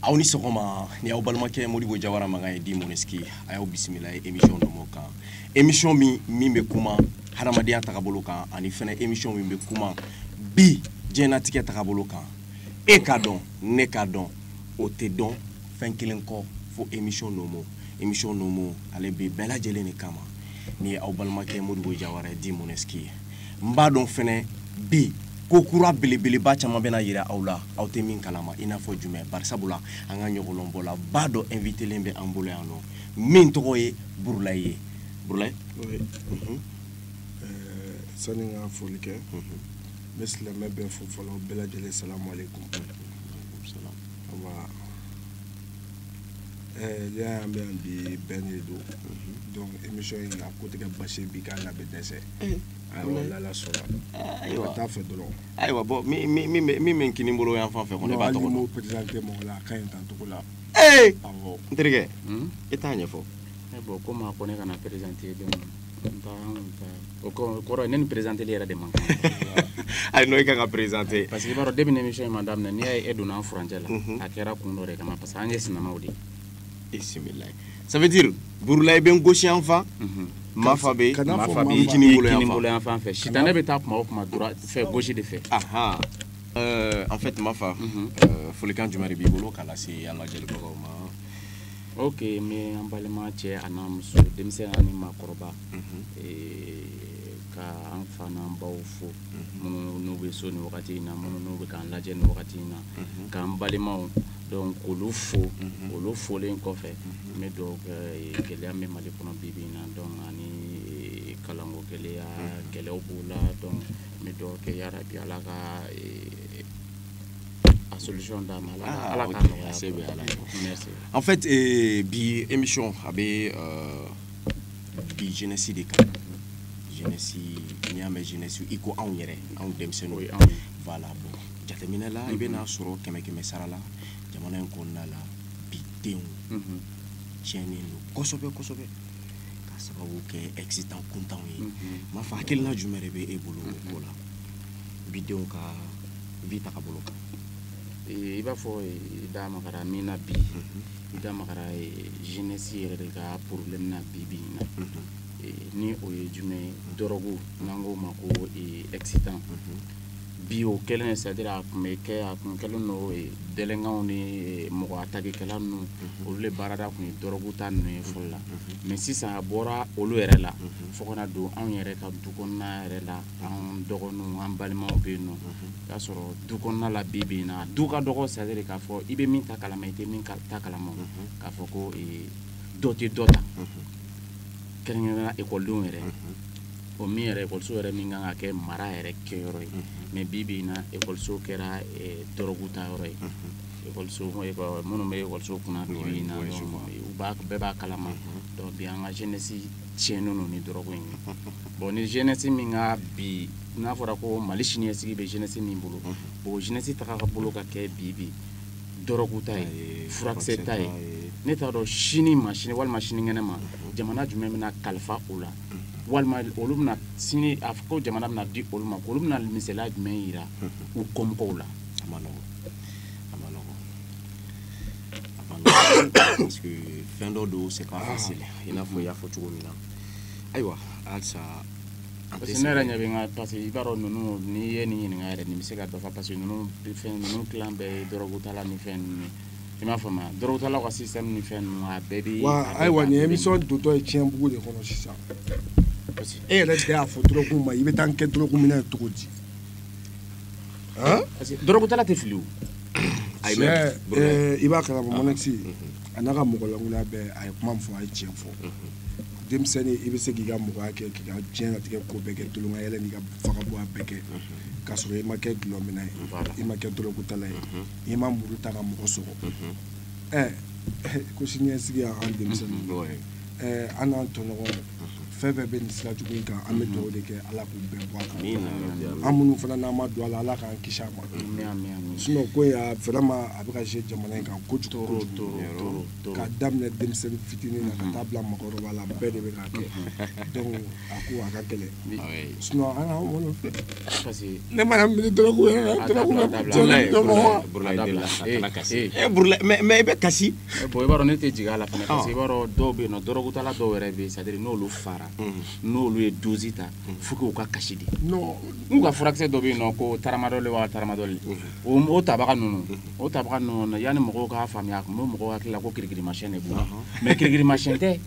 aw ni sɔgɔma ni aw balimakɛ modibo jawara mankan ye dit moneski a y'aw bisimila ye émission nomo kan émission min min bɛ kuma hadamadenya tagabolo kan ani fɛnɛ émission min bɛ kuma bi diɲɛnatigɛ tagabolo kan e k'a dɔn ne k'a dɔn o tɛ dɔn fɛn kelen kɔ fo émission nomo émission nomo ale bɛ bɛɛ lajɛlen de kama ni aw balimakɛ modibo jawara dit moneski ye n b'a dɔn fɛnɛ bi ko kura belebeleba caman bɛna yira aw la aw tɛ min kalama i n'a fɔ jumɛn barisabula an ka ɲɔgɔlɔnbɔla ba dɔ invitelen bɛ an bolo yan nɔ min tɔgɔ ye burulayi ye burulayi mhm. sani n ka foli kɛ mhm. n bɛ silamɛ bɛɛ fo fɔlɔ bɛɛ lajɛlen salamu aleykum an bɛ yan bi bɛn de don donc émission in a ko tɛ kɛ basi ye bi k'a na bɛ dɛsɛ ayiwa n'Ala sɔnna ayiwa ka taa fɛ dɔrɔn ayiwa bon min min min bɛ min bɛ kini bolo yan fan fɛ ko ne b'a hali tɔgɔ ni dɔn m'o présenté mɔgɔ la a ka ɲi tan cogo la ee awɔ n terikɛ i t'a ɲɛfɔ bon comme a ko ne kana présenté don O kɔrɔ ne ni perezte yɛrɛ de ma ayi n'o ka ka perezte pa que b'a dɔn de bɛ ne nisɔn in ma daminɛ n'i y' e donna fcɛ la a kɛra kun dɔ de kama parce que an ye sinama de e la sabati burula i bɛ n gosiyanfan ma fa bɛ boloyan fan fɛ si ne bɛ taa kuma o kuma fɛ gosi de fɛ an fɛ tun fa folikan jumɛn b'i bolo k' se an ka jeli ma ok n bɛ an balima cɛ a n'a muso denmisɛn ani maakɔrɔba mhm. ka an fa n'an baw fo mhm. minnu n'u bɛ so ni wagati in na minnu n'u bɛ k'an lajɛ ni wagati in na mhm. k'an balimaw donc k'olu fo olu folen kɔfɛ n bɛ dugawu kɛ gɛlɛya min bɛ mali kɔnɔ bi bi in na donc ani kalanko gɛlɛya gɛlɛyaw b'o la donc n bɛ dugawu kɛ yarabi ala ka a solution d'an ma ala ah, ala k'a nɔgɔya se bɛ ala merci en fait eh, bi émission a bɛ euh, bi jeunesse de kan jeunesse n'i y'a mɛn jeunesse i ko anw yɛrɛ anw denmisɛnninw voilà bon jateminɛ la i bɛna sɔrɔ kɛmɛ kɛmɛ sara la jamana in kɔnɔna la bi denw mhm. tiɲɛnen don kosɛbɛ kosɛbɛ ka sababu kɛ excitant kuntanw ye mhm. mafa hakilina jumɛn de bɛ e bolo o ko la mhm. bi denw ka vie tagabolo kan i b'a fɔ i da magara min na bi i da magara jeunesse yɛrɛ de ka problème na bi bi in na ni o ye jumɛn ye dɔrɔgu n'an k'o ma ko excitant bi o kɛlen c'est à dire a tun bɛ kɛ a tun kɛlen don dɛlɛnkanw ni mɔgɔ atakekɛla ninnu olu de baarada tun ye dɔrɔgu ta ninnu ye fɔlɔ la mais sisan a bɔra olu yɛrɛ la fo ka na don anw yɛrɛ ka du kɔnɔna yɛrɛ la an dɔgɔninw an balimaw bɛ yen nɔ y'a sɔrɔ du kɔnɔna la bi bi in na du ka dɔgɔ c'est à dire k'a fɔ i bɛ min ta kalama i tɛ min ta kalama k'a fɔ ko dɔ tɛ dɔ ta kɛrɛnkɛrɛnnenya ekɔlidenw yɛrɛ o min yɛrɛ ekɔliso yɛrɛ min kan ka kɛ mara yɛrɛ kɛyɔrɔ ye mais bi bi in na ekɔliso kɛra dɔrɔgu ta yɔrɔ ye ekɔliso minnu bɛ ekɔliso kunna bi in na bɛɛ b'a kalama donc bi an ka jeunesse tiɲɛnen don ni dɔrɔgu in ye bon ni jeunesse min ka bi n'a fɔra ko mali siniɲɛsigi bɛ jeunesse min bolo o jeunesse tagabolo ka kɛ bi bi dɔrɔgu ta ye furakisɛ ta ye ne t'a dɔn sini ma sini walima sinikɛnɛ ma jamana jumɛn bɛna kalifa o la walima olu bɛna sini a ko jamana bɛna di olu ma olu bɛna misaliya jumɛn yira u kɔmɔgɔw la parce que fɛn dɔ don c'est pas facile i n'a fɔ i y'a fɔ cogo min na ayiwa halisa parce que ne yɛrɛ ɲɛ bɛ n ka parce que i b'a dɔn ninnu n'i ye nin ɲininka yɛrɛ nin bɛ se ka dɔ fɔ parce que ninnu fɛn ninnu tilan bɛɛ ye dɔrɔgutala ni fɛn ninnu ye i m'a faamu wa dɔrɔgutalaw ka système ni fɛn ninnu a bɛɛ bɛ. wa ayiwa nin émission dontɔ ye tiɲɛbugu de kɔnɔ sisan e yɛrɛ de y'a fɔ dɔrɔgu ma i bɛ taa n kɛ dɔrɔgu minɛ cogo di. dɔrɔgutala tɛ fili o ayi mɛ Sɛ, bro, eh, i b'a kalama mɔnɛkisi a n'a ka mɔgɔlankoloya bɛɛ a ye kuma min fɔ a ye tiɲɛ fɔ denmisɛnnin i bɛ se k'i ka mɔgɔya kɛ k'i ka diɲɛlatigɛ ko bɛɛ kɛ tulonkayɛlɛ n'i ka fagabɔnya bɛɛ kɛ k'a sɔrɔ i ma kɛ dulɔminna ye Voilà. i ma kɛ dɔrɔgutala ye i ma muru ta ka mɔgɔ sɔgɔ ɛ ko siniɲɛsigi y'an denmisɛnnin bro, eh, an n'an tɔɲɔgɔn fɛn fɛn bɛ nin sira jugu in kan an bɛ dugawu de kɛ ala k'u bɛɛ bɔ a kan an minnu fana n'an ma don a la ala k'an kisi a ma sinon ko in a vraiment a bɛ ka jouer jamana in kan kojugu kojugu k'a daminɛ denmisɛnnin fitinin na ka taa bila mɔgɔkɔrɔba la bɛɛ de bɛ k'a kɛ donc a ko a ka gɛlɛn sinon an k'an wolo ne mana miiri dɔrɔgu yɛrɛ la dɔrɔgu bɛ jɔn na jɔn mɔgɔ mais i bɛ kasi Eh, bon i b'a dɔn ne tɛ jigin a la fana parce que i b'a dɔn dɔw bɛ yen nɔ dɔrɔgutala dɔw yɛrɛ bɛ yen c'est à dire n'olu fara n'olu ye dozi ta fo k'u ka kasi de n'u ka furakisɛ dɔ bɛ yen nɔ ko taramadɔli wa taramadɔli o o tabaga ninnu o tabaga ninnu na yanni mɔgɔw k'a faamuya a tun bɛ mɔgɔw hakili la ko kirikirimasiyɛn de b'u la mais kirikirimasiyɛn tɛ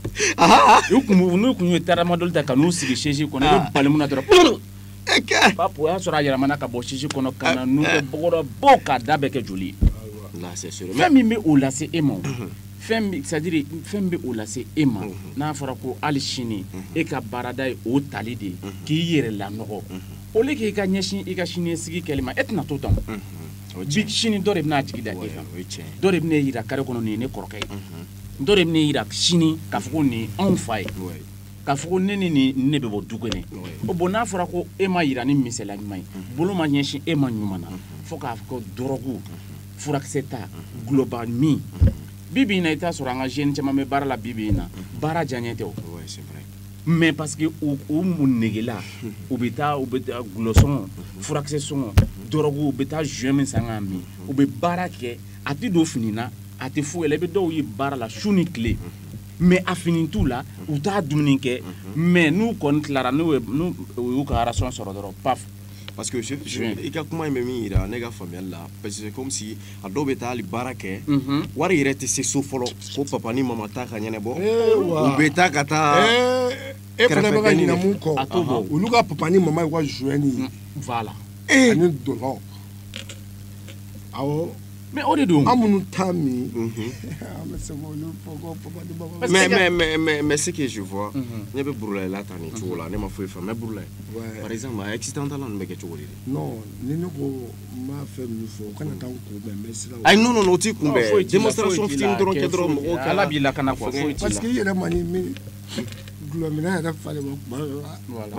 u tun b'u n'u tun ye taramadɔli ta ka n'u sigi sɛzi kɔnɔ i bɛ bali mun na dɔrɔn papu o y'a sɔrɔ a yɛlɛmana ka bɔ sɛsi kɔnɔ ka na nun kɛ bɔgɔ rɔ bo k'a da bɛɛ kɛ joli ye fɛn min bɛ o lase e ma c'est-à-dire fɛn min bɛ o lase e ma n'a fɔra ko hali sini e ka baarada ye o tali de k'i yɛrɛ lanɔgɔ au lieu k'i ka ɲɛsin i ka siniɲɛsigi kɛli ma e tɛna to tan bi sini dɔ de bɛna jigi da e kan dɔ de bɛna e yira kare kɔnɔ nin ye ne kɔrɔkɛ ye dɔ de bɛna e yira sini k'a fɔ ko nin ye anw fa ye k'a fɔ ko ne ni nin ne bɛ bɔ du kelen bon n'a fɔra ko e ma yira ni misaliya ɲuman ye bolo ma ɲɛsin e ma ɲuman na fo k'a fɔ ko dɔrɔgu furakisɛ ta gulɔba min bi bi in na i t'a sɔrɔ an ka jeune caman bɛ baara la bi bi in na baara diyaɲɛ tɛ o mais parce que u u mun negela u bɛ taa u bɛ taa gulɔ sɔngɔ furakisɛ sɔngɔ dɔrɔgu u bɛ taa joint min san k'a min u bɛ baara kɛ a tɛ don fini na a tɛ foyi la i bɛ dɔw ye baara la su ni tile mais a fini t'u la u t'a dumuni kɛ mais n'u kɔni tilara n'u y'u ka ration sɔrɔ dɔrɔn paf parce que i ka kuma in bɛ min yira ne ka faamuyali la parce que comme si a dɔw bɛ taa hali baara kɛ mhm. wari yɛrɛ tɛ se so fɔlɔ ko papa ni mama ta ka ɲɛnabɔ eh, u bɛ taa ka taa eh, e fana bɛ ka ɲinɛ mun kɔ olu ka papa ni mama y'u ka joint ye mm, voilà ani dɔlɔ awɔ mais o de don an minnu t'a min an bɛ se k'olu fɔ ko papa ni mama mais ce que je vois ne bɛ burulahi la tan nin cogo la ne ma foyi faamu mais burulahi par exemple a excitant tala ninnu bɛ kɛ cogo di non ni ne ko n b'a fɛ min fɔ o kana taa n kunbɛn n bɛ siran ayi non non o t'i kunbɛn démonstration fitinin dɔrɔn kɛ dɔrɔn mɔgɔw kɛ ala b'i lakana quoi foyi t'i la parce que i yɛrɛ ma nin min gulɔminna yɛrɛ falen ma kuma dɔ la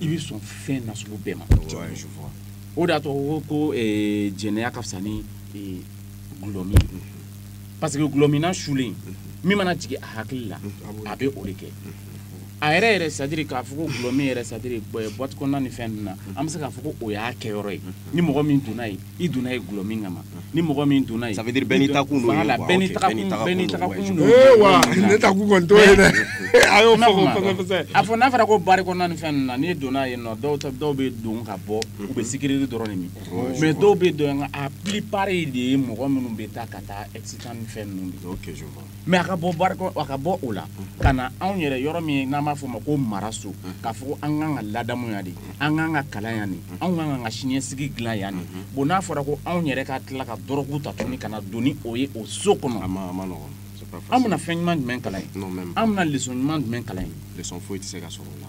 i bɛ sɔn fɛn nasugu bɛɛ ma o de y'a to ko jɛnɛya ka fisa ni gulɔmin parce que gulɔminna sulen min mana jigin a hakili la a bɛ o de kɛ a yɛrɛ yɛrɛ c'est-à-dire k'a fɔ ko gulɔmin yɛrɛ c'est-à-dire boîte kɔnɔna ni fɛn ninnu na an bɛ se k'a fɔ ko o y'a kɛyɔrɔ ye ni mɔgɔ min donna yen i donna yen gulɔmin kama ni mɔgɔ min donna yen ça veut dire bɛɛ n'i takun don voilà bɛɛ n'i takun bɛɛ n'i takun don ee wa ne takun kɔni t'o ye dɛ a y'o fɔ ko kosɛbɛ kosɛbɛ a fɔ n'a fɔra ko bari kɔnɔna ni fɛn ninnu na n'i donna yen nɔ dɔw dɔw bɛ don ka bɔ u bɛ sucrerie dɔrɔn de min mais dɔw bɛ don a plupart de ye mɔgɔ minnu bɛ taa ka taa excitant ni fɛn ninnu de ok je vois mais a ka bɔ baara a ka bɔ o la ka na anw yɛrɛ yɔrɔ min n'an b'a fɔ ma ko maraso k'a fɔ ko an kan ka ladamu yan de an kan ka kalan yan de anw kan ka siniɲɛsigi dilan yan de bon n'a fɔra ko anw yɛrɛ ka tila ka dɔrɔgu ta tuguni ka na don ni o ye o so kɔnɔ an bɛna fɛn ɲuman jumɛn kalan yen an bɛna lesɔn ɲuman jumɛn kalan yen lesɔn foyi tɛ se ka sɔrɔ o la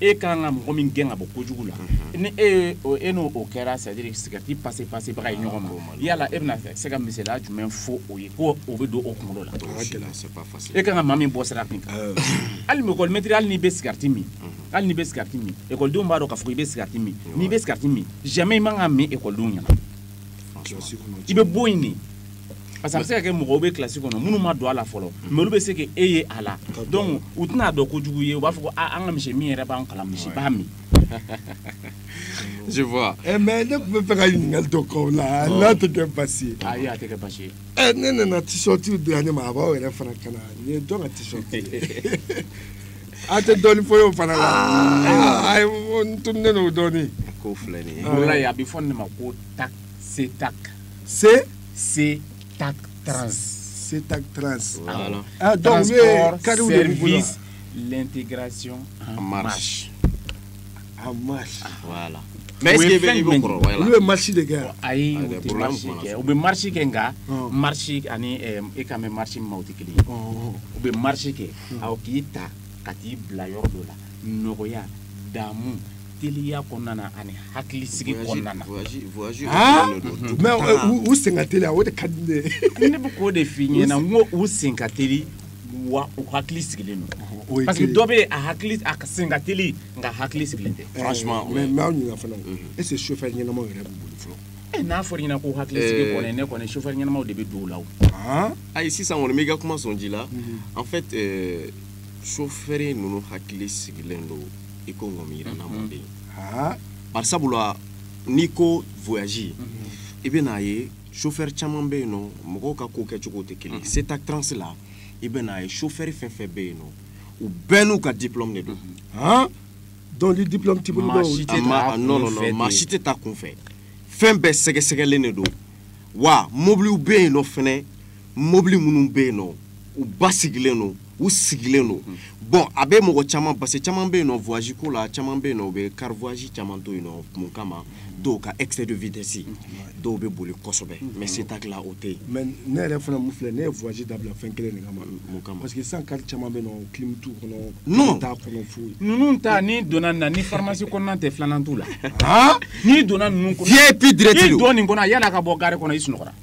e ka kan ka mɔgɔ min gɛn ka bɔ kojugu la ni e e n'o o kɛra c'est à dire sigati pase pasebaga ye ɲɔgɔn ma yala e bɛna se ka misaliya jumɛn fɔ o ye ko o bɛ don o kunkolo la e ka kan ka maa min bɔ sira min kan hali mɛtiri hali n'i bɛ sigati min hali n'i bɛ sigati min ekɔlidenw b'a dɔn k'a fɔ i bɛ sigati min n'i bɛ sigati min jamais i man k'a min ekɔlidenw ɲɛna i bɛ bɔ yen parce que a bɛ se ka kɛ mɔgɔw bɛ kilasi kɔnɔ minnu ma don a la fɔlɔ mais olu bɛ se ka e ye a la donc u tɛn'a dɔn kojugu ye u b'a fɔ ko an ka monsieur min yɛrɛ b'an kalan monsieur b'a min je vois eh, mais ne tun bɛ fɛ ka ɲininkali dɔ k'aw la n'a tɛ kɛ basi ye ayi a tɛ kɛ basi ye eh, ne nana tisɔtiw di yan ne ma a b'aw yɛrɛ fana kan na nin ye jɔn ka tisɔti ye a tɛ dɔɔni fɔ n y'o fana la ayi n tununen don dɔɔni k'o filɛ nin ye a bɛ fɔ nin de ma ko TAC CETAC se CETAC trans CETAC trans donc service l'intégration en marche en marche mais olu bɛ marche de kɛ ayi u bɛ marche kɛ nka marche ani e kan bɛ marche min ma tɛ kelen u bɛ marche kɛ aw k'i ta ka t'i bila yɔrɔ dɔ la nɔgɔya damu teliya kɔnɔna na ani hakili sigi kɔnɔna na mais u sen ka teli o de ka di ne ye ne bɛ k'o de f'i ɲɛna n ko u sen ka teli wa u hakili sigilen don parce que dɔ bɛ a hakili a sen ka teli nka hakili sigilen tɛ franchement mais n b'aw ɲininka fana est ce que chauffeur ɲɛnamaw yɛrɛ b'u bolo fɔlɔ Eh, n'a fɔra i ɲɛna ko hakili sigi eh. kɔni ne kɔni chauffeur ɲɛnamaw de bɛ don o la o ah. ayi sisan kɔni n b'i ka kuma sɔn ji la mhm. en fait euh, chauffeur ninnu hakili sigilen don i ko ŋɔmiyiranna mɔden bari sabula n'i ko voyage i bɛ n'a ye chauffeur caman bɛ yen nɔ mɔgɔw ka ko kɛcogo tɛ kelen ye CETAC trans la i bɛ n'a ye chauffeur fɛn fɛn bɛ yen nɔ u bɛɛ n'u ka diplôme de don donc ni diplôme t'i bolo maa si tɛ taa non non non maa si tɛ taa kunfɛ fɛn bɛɛ sɛgɛsɛgɛlen de don wa mobiliw bɛ yen nɔ fɛnɛ mobili minnu bɛ yen nɔ u basigilen don u sigilen don bon a bɛ mɔgɔ caman parce que caman bɛ yen nɔ voyage ko la caman bɛ yen nɔ u bɛ car voyage caman to yen nɔ mun kama dɔw ka excès de vitesse dɔw bɛ boli kosɛbɛ mais CETAC la o tɛ yen mais ne yɛrɛ fana mun filɛ ne ye voyage dabila fɛn kelen de kama mun kama parce que sisan car caman bɛ yen nɔ clim t'u kɔnɔ non t'a kɔnɔ foyi ninnu ta n'i donna nin na ni pharmacie kɔnɔna tɛ filanan t'u la n'i donna ninnu kɔnɔ VIP direct don n'i donna nin kɔnɔ yann'a ka bɔ gare kɔnɔ i sunɔgɔra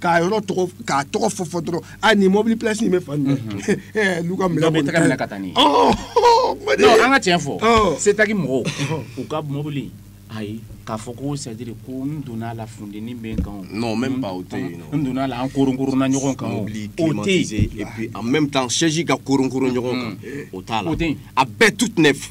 k'a yɔrɔ tɔgɔ k'a tɔgɔ fɔ fɔ dɔrɔn ani mɔbili pilasi in bɛ fan min ɛɛ n'u ka minɛ kɔni tɛgɛ minɛ ka taa n'i ye an ka tiɲɛ fɔ CETAC mɔgɔw u ka mɔbili ayi k'a fɔ ko c'est à dire ko n donna a la funteni bɛ n kan o non même pas o tɛ yen nɔ n donna a la an koronkoronna ɲɔgɔn kan o mobili climatisé et puis en même temps siège ka koronkoron ɲɔgɔn kan o t'a la o tɛ yen a bɛɛ toute neuf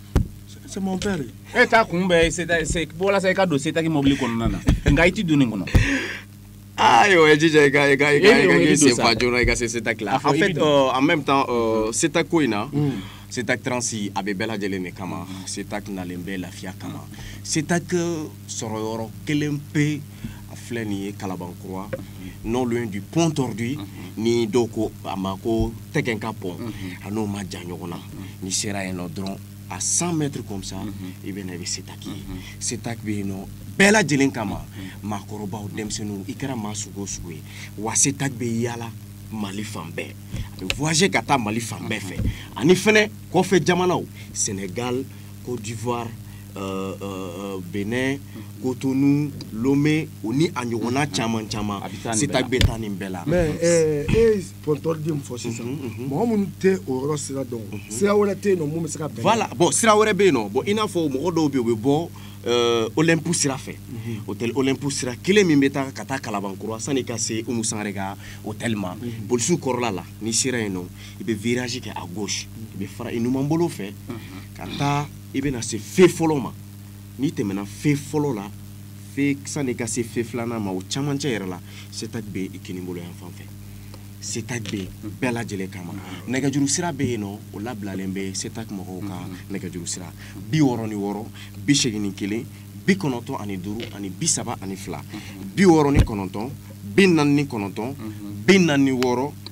c'est mon père e t'a kunbɛn walasa i ka don setaki mɔbili kɔnɔna na nka i ti don nin kɔnɔ ayiwa ah, jija i ka i ka i ka i ka sen fa joona i ka se setaki la en fait euh, en même temps euh, setaki ko in na hmm. setak transi a bɛ bɛɛ lajɛlen de kama setak nalen bɛ lafiya kama setak sɔrɔyɔrɔ kelen pe a filɛ nin ye kalabankura non loin du pont tordu ni dɔw ko a ma ko tɛgɛn ka pont a n'o man jan ɲɔgɔn na n'i sera yen nɔ dɔrɔn à 100 mètres comme ça i bɛ na i bɛ setaki ye setaki bɛ yen nɔ bɛɛ lajɛlen kama maakɔrɔbaw denmisɛnninw i kɛra maa sugu o sugu ye wa setaki bɛ yaala mali fan bɛɛ a bɛ voyager ka taa mali fan bɛɛ fɛ ani fɛnɛ kɔfɛ jamanaw senegal Côte d'Ivoire euh, euh, euh, Bénin Cotonou Lomé o ni a ɲɔgɔnna caman caman setak bɛ taa nin bɛɛ la mais e ye pont tordu min fɔ sisan mɔgɔ minnu tɛ o yɔrɔ sira dɔn sira wɛrɛ tɛ yen nɔ mun bɛ se ka bɛn voilà bon sira wɛrɛ bɛ yen nɔ bon i n'a fɔ mɔgɔ dɔw bɛ yen u bɛ bɔ euh, Olympe sira fɛ hôtel Olympe sira kelen min bɛ taa ka taa kalabankura sani ka se umu sangare ka hôtel ma polisiw kɔrɔla la n'i sera yen nɔ i bɛ virage kɛ à gauche i bɛ fara i numan bolo fɛ ka taa i bɛna se fe fɔlɔ ma n'i tɛmɛna fe fɔlɔ la fe sani ka se fe filanan ma o camancɛ yɛrɛ la setag bɛ i kinin bolo yan fan fɛ setag bɛ bɛɛ lajɛlen kama nɛgɛjuru sira bɛ yen nɔ o labilalen bɛ setag mɔgɔw ka nɛgɛjuru sira bi wɔɔrɔ ni wɔɔrɔ bi seegin ni kelen bi kɔnɔntɔn ani duuru ani bi saba ani fila bi wɔɔrɔ ni kɔnɔntɔn bi naani ni kɔnɔntɔn bi naani ni wɔɔrɔ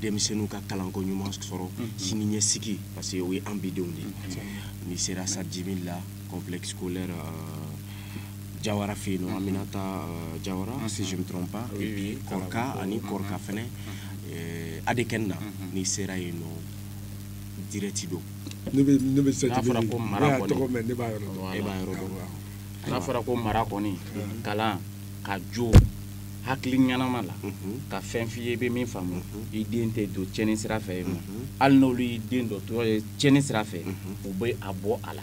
denmisɛnninw ka kalanko ɲuman sɔrɔ sini ɲɛsigi parce que o ye an bidenw de ye n'i sera sadimi la complexe scolaire euh, jawara fɛ yen nɔ aminata euh, jawara si je me trompe pas et puis kɔrɔka ani kɔrɔka fɛnɛ euh, adekɛni na n'i sera yen nɔ direct don ne bɛ ne bɛ n'a fɔra ko mara kɔni ne b'a yɔrɔ dɔn e b'a yɔrɔ dɔn n'a fɔra ko mara kɔni kalan ka jo hakili ɲɛnama la ka fɛn f'i ye i bɛ min faamu i den tɛ don cɛnni sira fɛ yen nɔ hali n'olu y'i den dontɔ ye cɛnni sira fɛ u bɛ a bɔ a la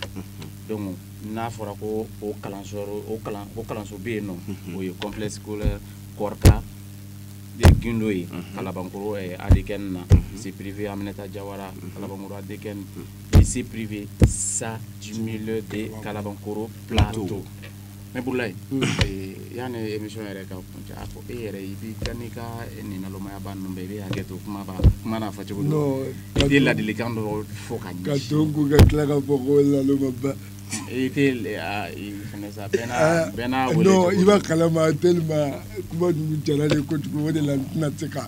donc n'a fɔra ko o kalanso o kalan o kalanso bɛ yen nɔ o ye complexe scolaire kɔrika gindo ye kalabankoro adekɛni na lycée privé aminata jawara kalabankoro adekɛni lycée privé sa jimile de kalabankoro plateau mais bulayi yanni emission yɛrɛ ka kuncɛ a fɔ e yɛrɛ i b'i ka n'i ka nin nalomaya ba ninnu bɛɛ i bɛ hakɛ to kuma b'a kuma n'a fɔ cogo don i tɛ ladilikan dɔ fɔ ka ɲɛsin ka to ko ka tila ka fɔ ko laloma ba i tɛ i fana sa bɛɛ n'a ah, bɛɛ n'a wele non i b'a kalama tellement kuma ninnu jara ne ye kojugu o de la n tɛna se ka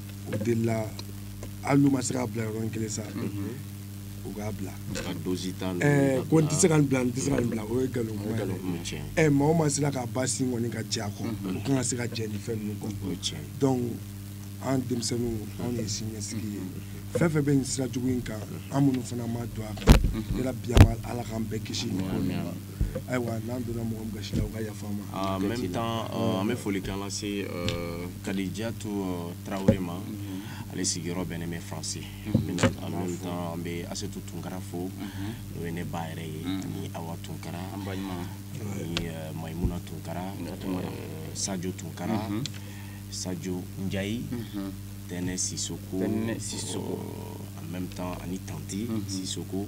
o de la hali n'u ma se k'a bila yɔrɔnin kelen sa u k'a bila ko n tɛ se ka nin bila n tɛ se ka nin bila o ye nkalon kuma ye ɛ maa o maa sera k'a ba sin kɔni ka jɛ a kɔ o kan ka se ka jɛ nin fɛn ninnu kɔ donc an denmisɛnninw anw ye siniɲɛsigi ye fɛn fɛn bɛ nin sira jugu in kan an minnu fana ma don a kan yarabi an ma ala k'an bɛɛ kisi nin ko ma ayiwa n'an donna mɔgɔ min gasi la o ka yafa an ma ah, en même temps euh, an bɛ folikan lase euh, kadijatu euh, tarawele ma mm-hmm. ale sigiyɔrɔ bɛnnen bɛ france mm-hmm. en même temps an bɛ asetu tunkara fo mm-hmm. n'o ye ne ba yɛrɛ ye ani awa tunkara ani mayimuna tunkara sajo tunkara sajo njayi tɛnɛ sisoko en même temps ani tanti sisoko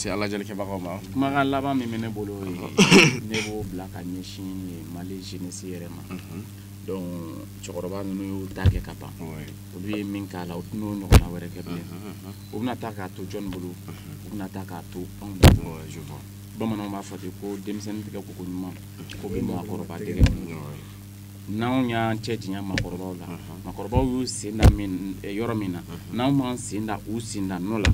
se an lajɛlikɛbagaw ma kumakan laban min bɛ ne bolo ne b'o bila ka ɲɛsin mali jeunesse yɛrɛ ma mhm. donc cɛkɔrɔba ninnu y'u ta kɛ ka ban olu ye min k'a la u tɛna o ɲɔgɔnna wɛrɛ kɛ bilen mhm, mhm, u bɛna taa k'a to jɔni bolo u bɛna taa k'a to anw de bolo bamananw b'a fɔ ten ko denmisɛnnin tɛgɛ ko ko ɲuman ko bɛ maakɔrɔba dɛgɛ n'anw y'an cɛ janya maakɔrɔbaw la maakɔrɔbaw y'u sen da yɔrɔ min na n'anw m'an sen da u sen da nɔ la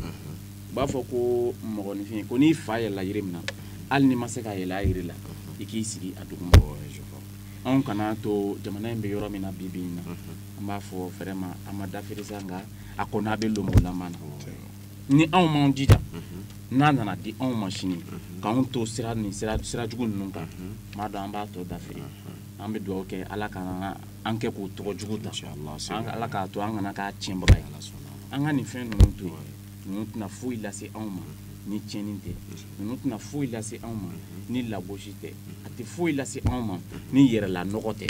u b'a fɔ ko mɔgɔninfin ko n'i fa yɛlɛla yiri min na hali n'i ma se ka yɛlɛ a yiri la i k'i sigi a duguma anw kana to jamana in bɛ yɔrɔ min na bi bi in na an b'a fɔ vraiment a ma dafiri sa nka a kɔni a bɛ lomolama na ni anw m'an jija n'a nana di anw ma sini k'anw to sira jugu ninnu kan m'a dɔn an b'a tɔ dafiri an bɛ dugawu kɛ ala kana an kɛ k'o tɔgɔ jugu ta ala k'a to an kana k'a tiɲɛbaga ye an ka nin fɛn ninnu to yen ninnu tɛna foyi lase anw ma ni tiɲɛni tɛ ninnu tɛna foyi lase anw ma ni lagosi tɛ a tɛ foyi lase anw ma ni yɛrɛla nɔgɔ tɛ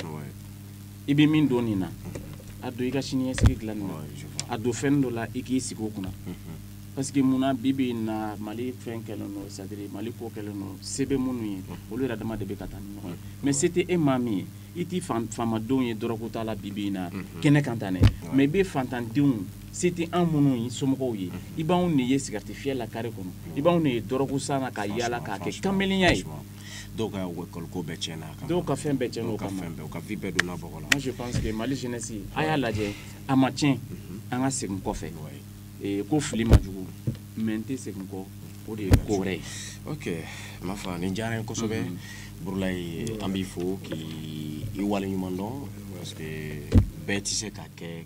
i bɛ min don nin na a don i ka siniɲɛsigi dilanni na a don fɛn dɔ la i k'i sigi o kunna parce que mun na bi bi in na mali fɛn kɛlen don c'est-à-dire mali ko kɛlen don se bɛ minnu ye olu yɛrɛ dama de bɛ ka taa ni ɲɔgɔn ye mais se tɛ e maa min ye i tɛ faamadenw ye dɔrɔgu ta la bi bi in na kɛnɛ kan tan dɛ mais i bɛ faantandenw se tɛ an minnu ye somɔgɔw ye i b'anw de ye sigarɛti fiyɛ la kare kɔnɔ i b'anw de ye dɔrɔgu san na ka yaala k'a kɛ kamelenya ye dɔw ka école ko bɛɛ tiɲɛna dɔw ka fɛn bɛɛ tiɲɛna o kama u ka vie bɛɛ donna bɔgɔ la je pense que mali jeunesse a y'a lajɛ a ma tiɲɛ mhm. an ka segin kɔfɛ eh, ko fili ma jugu mais n tɛ segin kɔ o de ye ko wɛrɛ ye ok ma fa nin diyara n ye kosɛbɛ mhm. burulayi an b'i fo k'i waleɲuman dɔn parce que bɛɛ tɛ se ka kɛ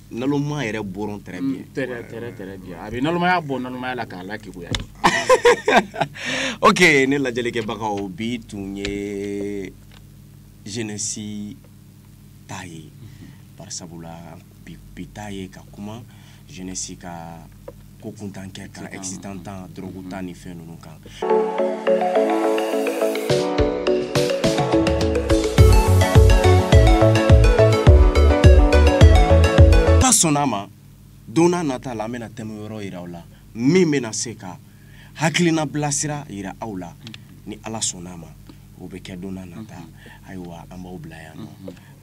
nalonma yɛrɛ bɔrɔn très mm, bien très très très bien a bɛ nalonmaya bɔ nalonmaya la k'a lakeguya ok ne lajɛlikɛbagaw bi tun ye jeunesse ta ye barisabula bi ta ye ka kuma jeunesse ka ko kuntan kɛ kan excitant ta drogue ta ni fɛn ninnu kan n'ala sɔnna a ma don n'a nata la an bɛna thème wɛrɛ yira aw la min bɛna se ka hakilina bilasira yira aw la ni ala sɔnna a ma o bɛ kɛ don na nata ayiwa an b'aw bila yan nɔ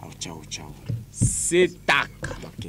aw ciao ciao se ta kaba kɛ